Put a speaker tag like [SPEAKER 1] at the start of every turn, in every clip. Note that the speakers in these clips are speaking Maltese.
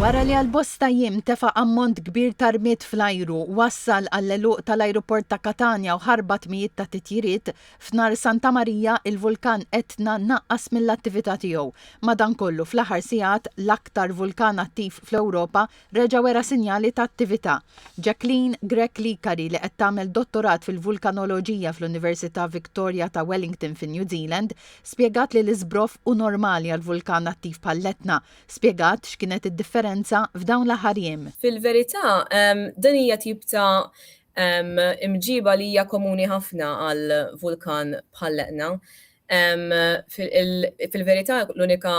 [SPEAKER 1] Wara li għal bosta jiem tefa' ammont kbir ta' rmied fl-ajru, wassal għall-għeluq tal-ajruport ta' Katanja u ħarbat mijiet ta' titjiriet, f'Nar Santa Marija, il-vulkan Etna naqqas mill-attività tiegħu. Madankollu, fl-aħħar sigħat, l-aktar vulkan attiv fl-Ewropa Reġa' wera sinjali ta' attività. Jacqueline Grech Licari li qed tagħmel dottorat fil-vulkanoloġija fl-Università Victoria ta' Wellington fin-New Zealand spjegat li l-iżbroff hu normali għal vulkan attiv bħall-Etna. Spjegat x'kienet id-differenza f'dawn l-aħħar jiem. Fil-verità,
[SPEAKER 2] din hija tip ta' imġiba li hija komuni ħafna għal vulkan bħall-Etna. Fil-verità l-unika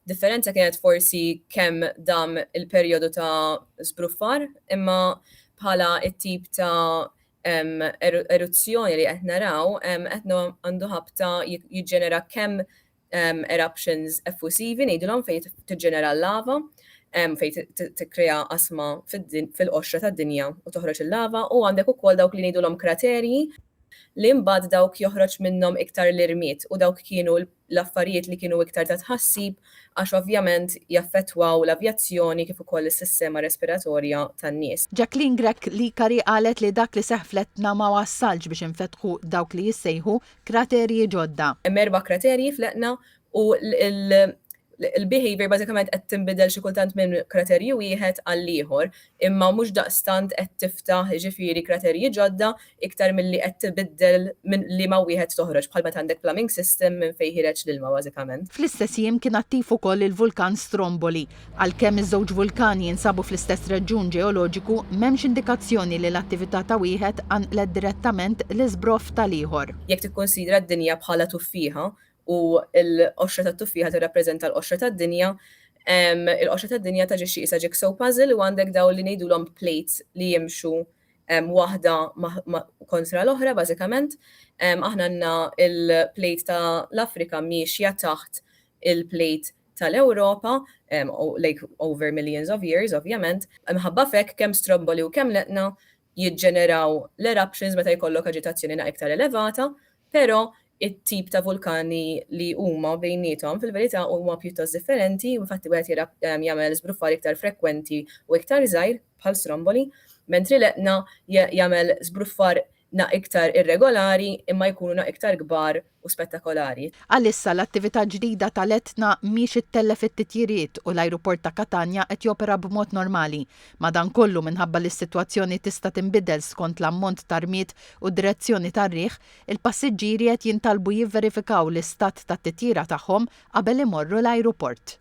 [SPEAKER 2] Differenza kienet forsi kemm dam il-perjodu ta' żbruffar, imma bħala t-tip ta' eruzzjoni li qed naraw, qed għandu ħabta jiġġenera kemm eruptions effusivi ngħidilhom fejn tiġġenera l-lava, fejn tikkrea qasma fil-qoxra tad-dinja u toħroġ il-lava, u għandek ukoll dawk li ngħidulhom kraterji li mbagħad dawk joħroġ minnhom iktar l-irmied u dawk kienu l-affarijiet li kienu iktar ta' tħassib għax ovvjament jaffettwaw l-avjazzjoni kif ukoll is-sistema respiratorja tan-nies. Jacqueline Grech
[SPEAKER 1] Licari qalet li dak li seħħ fl-Etna ma wassalx biex infetħu dawk li jissejħu kraterji ġodda. Hemm erba' kraterji
[SPEAKER 2] fl-Etna u l-behaviour bażikament qed tinbidel xi kultant minn kraterju wieħed għall-ieħor. imma mhux daqstant qed tiftaħ jiġifieri kraterji ġodda iktar milli qed tibiddel minn liema wieħed toħroġ bħal meta għandek plumbing system minn fejn ħireġ l-ilma bażikament. Fl-istess jiem kien
[SPEAKER 1] attiv ukoll il-vulkan Stromboli. Għalkemm iż-żewġ vulkani jinsabu fl-istess reġjun ġeoloġiku, m'hemmx indikazzjoni li l-attività ta' wieħed qanqlet direttament l-iżbroff tal-ieħor. Jekk tikkunsidra
[SPEAKER 2] d-dinja bħala tuffieħa, u l-qoxra tat-tuffieħa tirrappreżenta l-qoxra tad-dinja, il-qoxra tad-dinja taġixxi qisha jigsaw puzzle u għandek dawn li ngħidulhom plates li jimxu waħda kontra l-oħra bażikament. Aħna għandna l-plate ta' l-Afrika miexja taħt il-plate ta' l-Ewropa, like over millions of years ovvjament, imħabba f'hekk kemm stromboli u kemm leqna jiġġeneraw l-eruptions meta jkollok aġitazzjoni naqra iktar elevata, però it-tip ta' vulkani li huma bejniethom fil-verità huma pjuttost differenti u infatti wieħed jara jagħmel żbruffar iktar frekwenti u iktar żgħir, bħal Stromboli, mentri l-Etna jagħmel żbruffar naqra iktar irregolari imma jkunu naqra iktar kbar u spettakolari. Għalissa l-attività
[SPEAKER 1] ġdida tal-Etna mhix ittellef it-titjiriet u l-ajruport ta' Katanja qed jopera b'mod normali. Madankollu, minħabba li s-sitwazzjoni tista' tinbidel skont l-ammont ta' rmied u d-direzzjoni tar-riħ, il-passiġġieri qed jintalbu jivverifikaw l-istat tat-titjira tagħhom qabel imorru l-ajruport.